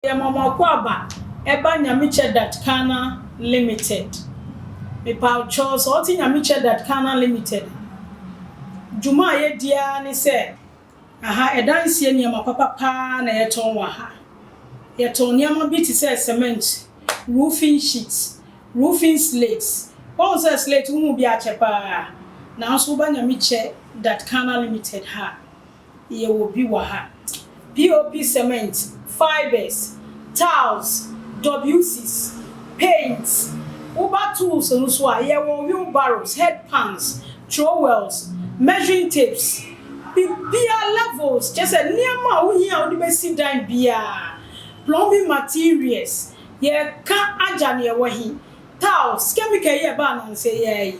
Meyɛ Mɔmɔko Aba ɛba Nyamikyɛ Dat Kana Limited Mepaokyɛw sɛ ɔte Nyamikyɛ Dat Kana Limited a dwuma a yɛdi ara ne sɛ aha ɛdanseɛ nneɛma papa paa na yɛtɔn wɔ ha. Yɛtɔn nneɛma bi te sɛ cement, roofing sheet, roofing slate, wahu sɛ slate wohu bi akyɛ paa nanso woba Nyamikyɛ Dat Kana Limited ha a. Yɛwɔ bi wɔ ha. POP cement, fibres, tiles, WCs, paints. Woba tools no so a, yɛwɔ wheelbarrows, head pans, trowels, measuring tapes. Biribiara levels, kyerɛ sɛ nneɛma a wohia a wode bɛsi dan biara, plumbing materials. Yɛka agya no yɛwɔ he? Tiles, chemical yi a ɛbaa nnansa yi ara yi.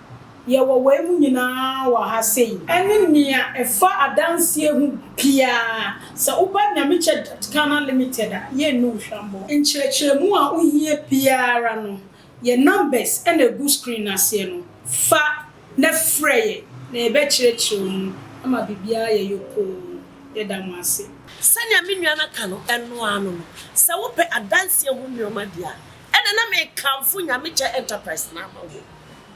Yɛwɔ wei mu nyinaa wɔ ha sei. Ɛne nea ɛfa adanseɛ ho biara. Sɛ woba Nyamechurch Ghana Limited a, yɛnni wo hwammɔ. Nkyerɛkyerɛmu a wohia biara no, yɛn numbers na ɛgu screen no aseɛ no, fa na frɛ yɛn na yɛbɛkyerɛkyerɛ wo mu ama biribiara ayɛ yopoo. Yɛda mo ase. Sɛnea me nua no aka no, ɛno ara no no. Sɛ wopɛ adanseɛ ho nneɛma deɛ a, Ɛna na mekamfo Nyamekyɛ Enterprise no ama wo.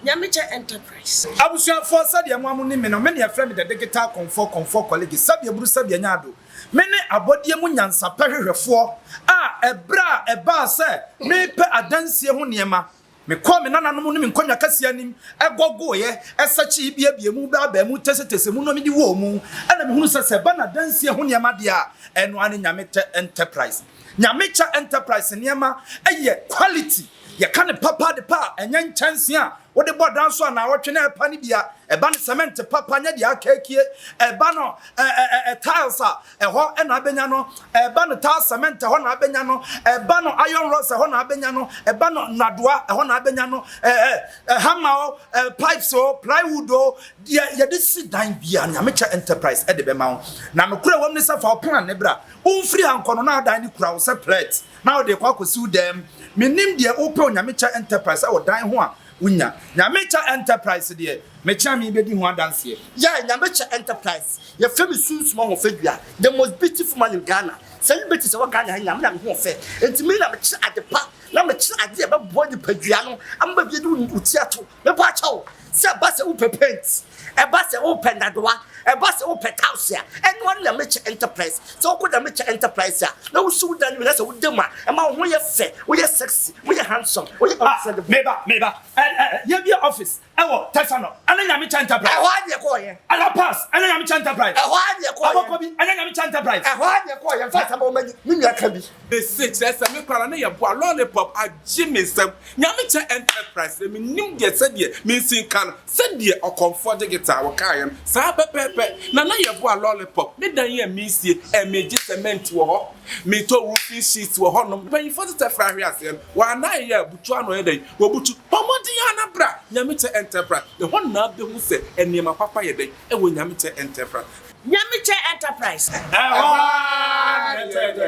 Nyamekyɛ Enterprise. Abusuafoɔ, sɛdeɛ mo a monim me no, me na yɛfrɛ me The Digital Kɔmfoɔ, Kɔmfoɔ Kɔlege, sɛdeɛ buru sɛdeɛ nya ado. Me ne abɔdeɛ mu nyansapɛ hwehwɛfoɔ a ɛberɛ a ɛbaa sɛ merepɛ adansie ho nneɛma, mekɔɔ me nananom ne me nkonnwa kɛseɛ anim, gɔgoeɛ, sɛkyee, biabiaa mu, baabaa mu, tesetesee mu na medi wɔɔ mu, ɛna mehunu sɛ sɛ ɛba no adansie ho nneɛma deɛ a, ɛno ara ne Nyamekyɛ Enterprise. Nyamekyɛ Enterprise nneɛma yɛ quality, yɛka no papa de pa a, ɛnyɛ nkyɛnse a wode bɔ dan so a naawɔtwe na ɛrepa no bi a, ɛba no cement papa, nyɛ deɛ akakie, ɛba no ɛɛ tiles a, ɛhɔ na abɛnya no, ɛba no tar cement, ɛhɔ na abɛnya no, ɛba no iron rods, ɛhɔ na abɛnya no, ɛba no nnadoa, ɛhɔ na abɛnya no, ɛɛ hammer o, ɛɛ pipes o, plywood o, deɛ yɛde si dan bia Nyamekyɛ Enterprise de bɛma wo, na nokorɛ wɔ mu ne sɛ fa wo plan no bra. Wo mfiri ha nkɔ no na adan no kura wo sɛ plɛt na wode rekɔ akɔsi wo dan mu. Mennim deɛ wopɛ Onyamekyɛ Enterprise wɔ dan ho a wonya. Nyamekyɛ Enterprise deɛ, mekyea me bɛdi ho adanseɛ. Yeah Nyamekyɛ Enterprise yɛ fɛ me sunsum ahofadua the most beautiful man in Ghana sɛ me bɛti sɛ wɔ Ghana ha nyinaa me na me ho ɔfɛ nti me na mekyerɛ adepa na mekyerɛ adeɛ a ɛbɛboa nipadua no ama baabi adi wo ti ato Mebɔ akyɛ wo sɛ ɛba sɛ wopɛ paint, ɛba sɛ wopɛ ndadowa, ɛba sɛ wopɛ tiles a, ɛno ara ne Nyamekyɛ Enterprise. Sɛ wokɔ Nyamekyɛ Enterprise a, na wosi wo dan no wie na sɛ woda mu a, ɛma wo ho yɛ fɛ, woyɛ sexy, woyɛ handsome, woyɛ incredible. Ah, meba, meba. Ɛ, ɛ, ɛ, yɛabue office wɔ Tesano, ɛne Nyamekyɛ Enterprise. Ɛhɔ ara ne yɛkɔeɛ. A La Paz, ɛne Nyamekyɛ Enterprise. Ɛhɔ ara ne yɛkɔeɛ. Abɔkɔbi, ɛne Nyamekyɛ Enterprise. Ɛhɔ ara ne yɛkɔeɛ. Mfa asɛm a woma ni, me nua ka bi. Mese kyerɛ sɛ me koraa ne yɛ boa lollipop agye me nsam Nyamekyɛ enterprise na menim deɛ sɛdeɛ mensi nka no sɛdeɛ ɔkɔmfoɔ digital wo kaeɛ no saa pɛpɛɛpɛ na na yɛ boa lollipop me dan yi a mensie ɛ megye cement wɔ hɔ metɔ roofing sheets wɔ hɔ nom mpanyinfoɔ tetɛ fra ahwe aseɛ no wɔanae yɛ a butu ano yɛ dɛn wɔbutu bɔ mmɔden a na bra Nyamekyɛ enterprise ɛhɔ nnaa bɛhu sɛ nneɛma papa yɛ dɛn ɛwɔ Nyamekyɛ enterprise Nyamekyɛ enterprise ɛhɔ aa na ɛtɔ yɛ dɛn.